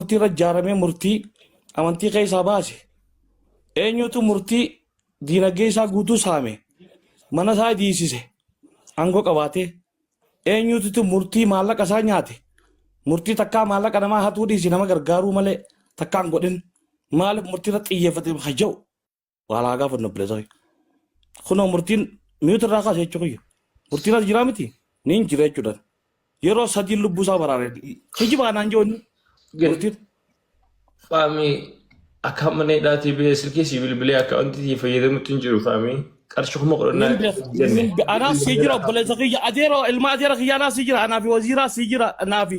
murtii irra ijaaramee murtii amantii keessaa baase eenyutu murtii diinagdee isaa guutuu saame mana isaa diisise aangoo qabaatee eenyutu murtii maallaqa isaa nyaate murtii takkaa maallaqa namaa hatuu dhiisi nama gargaaruu malee takkaan godhin maaliif murtii irra xiyyeeffate haja'u Wal haa gaafannu obboleessa kiyya. Kunoo murtiin mi'uutu irraa kaase jechuu kiyya. Murtiin as jiraa miti ni hin jira jechuudhaan. Yeroo sadiin lubbuu isaa baraare. Kijiba anaan joonni. Murtiin. Faamii akka mana hidhaatii bee silkii sii bilbilee akka wanti sii fayyadamutti hin jiru faamii qarshii kuma kudhan Nin beeka. Nin be- Anaaf sii jira obboleessa kiyya. Adeeroo ilma adeera kiyya anaaf sii jira. Anaafi waziiraa sii jira. Anaafi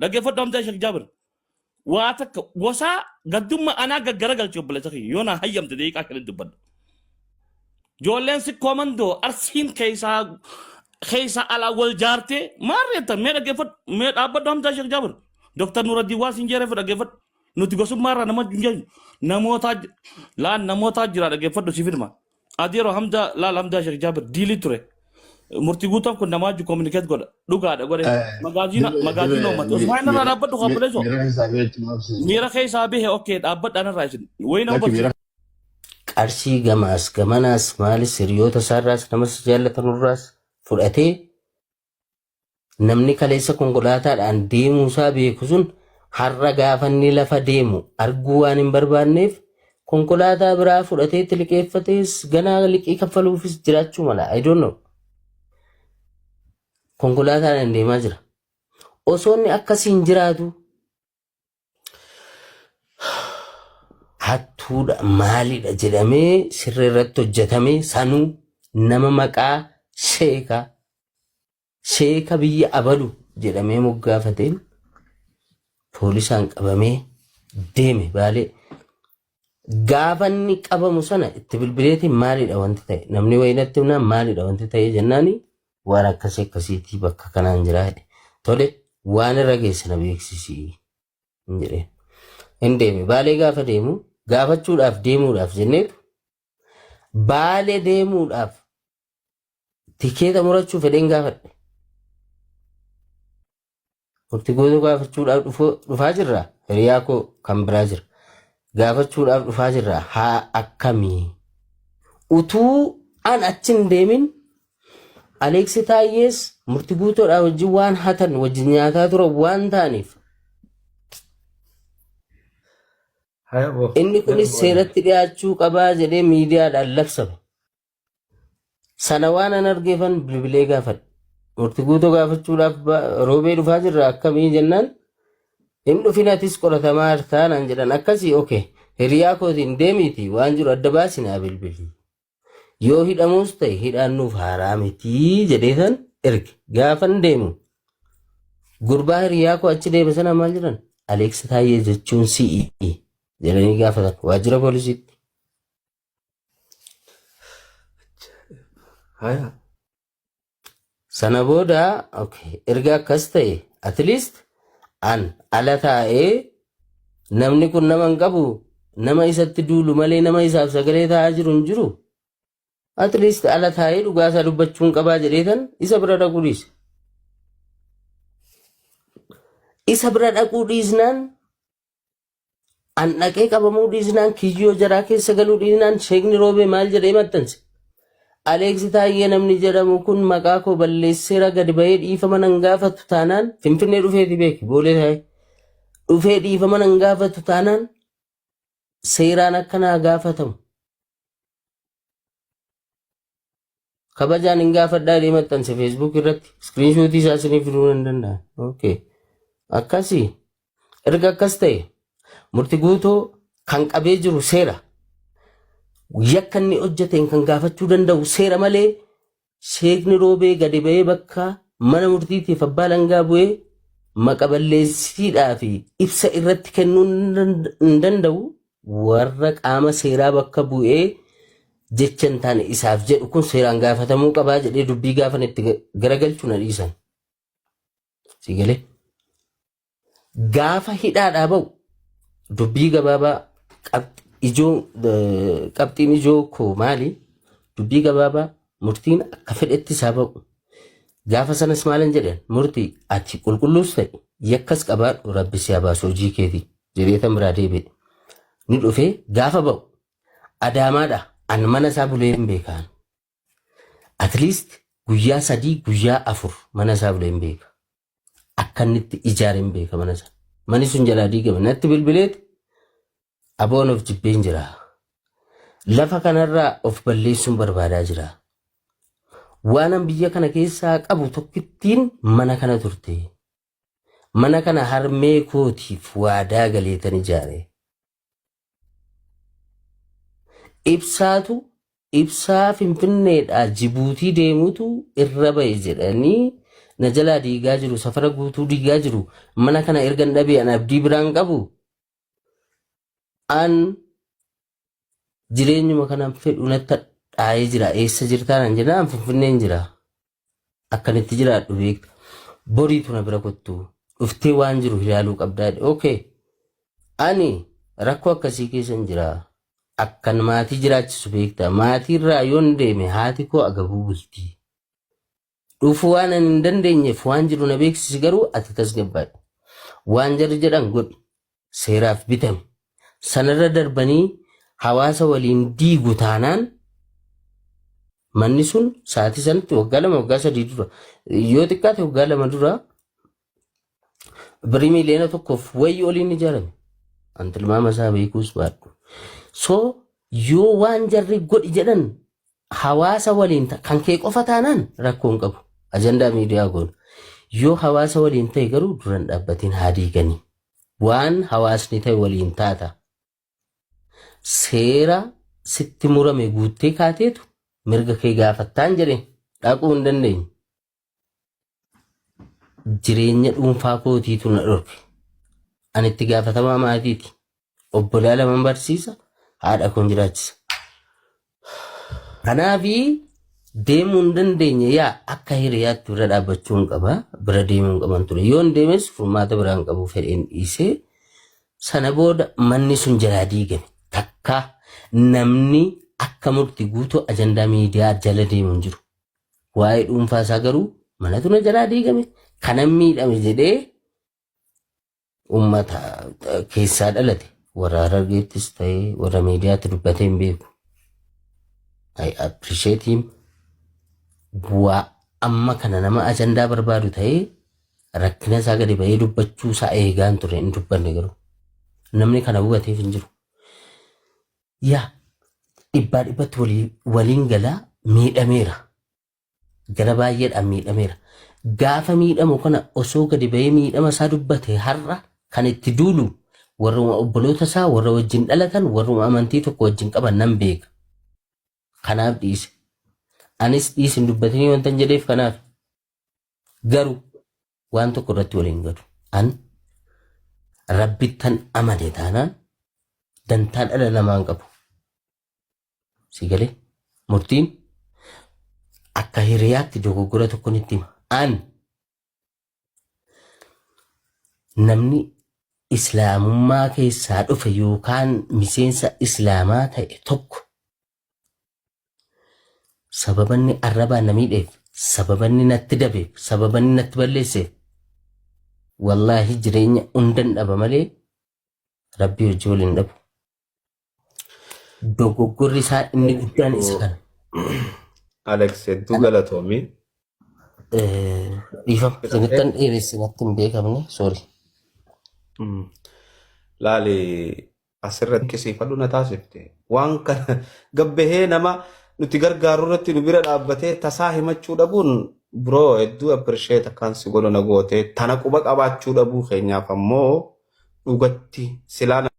Dhaggeeffadhu amtee Sheek Jaabir. Waa takka gosaa gaddumma anaa gaggara galchi obboleessa kiyya yoo naa hayyamte deeqaa shanitti dubbadha. Joolleen sikkoo mandoo arsiin keessaa keessaa alaa wal jaartee maal reettan mee dhaggeeffadhu mee dhaabbadhu amtee Sheek Jaabir. Dooktar Nuraddiin waan siin jeereef dhaggeeffadhu. Nuti gosummaa irraa nama hin jennu. Namootaa ji- laan namootaa jira dhaggeeffadhu siif hidhma. Adiyero Hamza laal Hamza Sheikh Jabir diili ture. Murti guutan kun namaa ju communicate godha. Dhugaadha godhe. Magaaziina Dibe, magaaziina dibe, uummata. mi- Usmaan irraa miira, dhaabbadhu mi- kaabaleesoo. miira keessaa beektu maaf seeta? Miira keessaa bahe okay dhaabbadhaan irraa isin. Wayii nama Lakki miira barsiisa. qarshii gamaas gamanaas maalis hiriyoota isaarraas namas jaallatanurraas fudhatee Namni kaleessa konkolaataadhaan deemuusaa beeku sun har'a gaafa inni lafa deemu arguu waan hin barbaanneef konkolaataa biraa fudhatee itti liqeeffatees ganaa liqii kaffaluufis jiraachuu mala. I don't know. Konkolaataadhaan deemaa jira. Osoo inni akkasiin jiraatu hattuudha maalidha jedhamee sirri irratti hojjetame sanuu nama maqaa sheeka sheeka biyya abalu jedhamee moggaafateen poolisaan qabamee deeme baalee Gaafa inni qabamu sana itti bilbileeti maalidha wanti ta'e namni wayii natti himnaan maalidha wanti ta'e jennaani waan akkasii akkasiitii bakka kanaan jira jedhe. Tole waan irra geesse na beeksisi hin jedheen. Hin deeme baalee gaafa deemu gaafachuudhaaf deemuudhaaf jenneetu baalee deemuudhaaf tikeeta murachuu fedheen gaafadhe. Murtii goota gaafachuudhaaf dhufu- dhufaa jirra. Hiriyaa koo kan biraa jira. Gaafachuudhaaf dhufaa jirra. Haa akkamii? Utuu an achi hin deemin Aleeksi Taayyees murtii guutoodhaa wajjin waan hatan wajjin nyaataa turan waan ta'aniif Haya boo. inni kunis seeratti dhiyaachuu qabaa jedhee miidiyaadhaan labsame. Sana waan an argeefan bilbilee gaafadhe. Murti guutoo gaafachuudhaaf ba- roobee dhufaa jirra akkamii jennaan hin dhufin atis qoratamaa jirtaa naan jedhan akkasii oke hiriyaa kootiin deemiiti waan jiru adda baasi naa bilbili. Yoo hidhamuus ta'e hidhaan nuuf haaraa mitii jedheetan erge gaafan deemu gurbaa hiriyaa koo achi deeme sana maal jedhan Aleeks Taayyee jechuun si'i jedhanii gaafatan waajjira poolisiitti. Haya. Sana booda okay, erga akkas ta'e at least an ala taa'ee namni kun nama hin qabu nama isatti duulu malee nama isaaf sagalee taa'aa jiru hin jiru. At least ala taa'ee dhugaa isaa dubbachuun qabaa jedheetan isa bira dhaquu dhiise. Isa bira dhaquu dhiisnaan An dhaqee qabamuu dhiisnaan kiyyoo jaraa keessa galuu dhiisnaan sheekni roobee maal jedhee maxxanse? Aleeksi Taayyee namni jedhamu kun maqaa koo balleesseera gadi bahee dhiifama nan gaafatu taanaan Finfinnee dhufeeti beeki boolee taa'ee dhufee dhiifama nan gaafatu taanaan seeraan akka naa gaafatamu kabajaan hin gaafadhaa jedhee maxxanse feesbuuk irratti iskiriinshuutii isaa isiniif fiduu nan danda'a. Okay. Akkasii erga akkas ta'e murti guutuu kan qabee jiru seera yakka inni hojjeteen kan gaafachuu danda'u seera malee Seekni Roobee gadi ba'ee bakka mana murtiitiif abbaa langaa bu'ee maqa balleessitiidhaa fi ibsa irratti kennuu hin danda'u warra qaama seeraa bakka bu'ee jecha hin taane isaaf jedhu kun seeraan gaafatamuu qabaa jedhee dubbii gaafan itti garagalchu na dhiisan. Siigalee. Gaafa hidhaadhaa ba'u dubbii gabaabaa qab- ijoo eh, qabxiin ijoo koo maali? Dubbii gabaabaa murtiin akka fedhetti isaa ba'u. Gaafa sanas maalan jedheen murtii ati qulqulluus ta'e yakkas qabaadhu rabbi si haa baasu hojii keetii jedhee tan biraa deebi'e. Ni dhufee gaafa ba'u adaamaadha an mana isaa bulee hin beekaan. At least guyyaa sadii guyyaa afur mana isaa bulee hin beeka. akka inni itti ijaare hin beeka mana sana. Mani sun jalaa diigame natti bilbileeti aboon of jibbeen jira. Lafa kanarraa of balleessuun barbaadaa jira. Waanan biyya kana keessaa qabu tokkittiin mana kana turte. Mana kana harmee kootiif waadaa galeetan ijaare. Ibsaatu ibsaa Finfinneedhaa Jibuutii deemutu irra ba'e jedhanii na jalaa diigaa jiru, safara guutuu diigaa jiru, mana kana ergan dhabee an abdii biraan qabu, an jireenyuma kanan fedhu natti hadhaa'ee jira, eessa jirtaa nan jennaan an Finfinneen jira. Akkan itti jiraadhu beekta. Boriitu na bira kottu. Dhuftee waan jiru ilaaluu qabdaa jedhe. Okay. Ani rakkoo akkasii keessan jira. Akkan maatii jiraachisu beekta. Maatiirraa yoon deeme haati koo agabuu bulti. Dhufuu waan ani hin dandeenyeef waan jiru na beeksisi garuu ati tasgabbaa'i. Waan jarri jedhan godhi. seeraaf bitame. Sanarra darbanii hawaasa waliin diigu taanaan manni sun sa'aatii sanatti waggaa lama waggaa sadii dura yoo xiqqaate waggaa lama dura birrii miiliyoona tokkoof wayii oliin ijaarame. An tilmaama isaa beekuus baadhu. So yoo waan jarri godhi jedhan Hawaasa waliin ta, kan kee qofa taanaan rakkoo hin qabu. Ajandaa miidiyaa goona. Yoo hawaasa waliin ta'e garuu duran dhaabbatiin haa diiganii. Waan hawaasni ta'e waliin taata. Seera sitti murame guuttee kaateetu mirga kee gaafattaan jedheen dhaquu hin dandeenyu. jireenya dhuunfaa kootiitu na dhorke. Ani itti gaafatamaa maatiiti. Obbolaa laman barsiisa, haadha koon jiraachisa. Kanaafi deemuu hin dandeenye yaa akka hiriyaatti bira dhaabbachuu hin qaba. Bira deemuu hin qaban ture. Yoon deemes furmaata biraa hin qabu fedheen dhiisee. Sana booda manni sun jalaa diigame. Takka namni akka murti guutuu ajandaa miidiyaa jala deemu hin jiru. Waa'ee dhuunfaa isaa garuu manatu na jalaa diigame kanan miidhame jedhee uummata keessaa dhalate warra harargeettis ta'ee warra miidiyaatti dubbatee hin beeku. I appreciate him. Bu'aa amma kana nama ajandaa barbaadu ta'ee rakkina isaa gadi ba'ee dubbachuu isaa eegaan ture hin dubbanne garuu namni kana hubateef hin jiru. Yaa dhibbaa dhibbatti waliin waliin gala miidhameera. Gara baay'eedhaan miidhameera. Gaafa miidhamu kana osoo gadi ba'ee miidhama isaa dubbate har'a kan itti duulu warruma obboloota isaa warra wajjin dhalatan warruma amantii tokko wajjin qaban nan beeka. Kanaaf dhiise. Anis dhiisin dubbatinii wantan jedheef kanaaf. Garuu waan tokko irratti waliin galu. An rabbittan amane taanaan dantaa dhala namaan qabu. Si galee murtiin akka hiriyaatti dogoggora tokko nitti hima. An namni islaamummaa keessaa dhufe yookaan miseensa islaamaa ta'e tokko Sababanni arrabaa na miidheef, sababanni natti dabeef, sababanni natti balleesseef wallaahi jireenya hundan dhaba malee rabbii hojii waliin dhabu. Dogoggorri isaa inni guddaan isa kana. Alex hedduu galatoomi. Eh, Dhiifama, isinittan dheeresse natti hin beekamne, sorry. Mm. Laali Asirra dinqisiifadhu na taasifte. Waan kana gabbahee nama nuti gargaaru irratti nu bira dhaabbatee tasaa himachuu dhabuun bro hedduu appreciate akkaan si godhu na goote. Tana quba qabaachuu dhabuu keenyaaf ammoo dhugatti silaa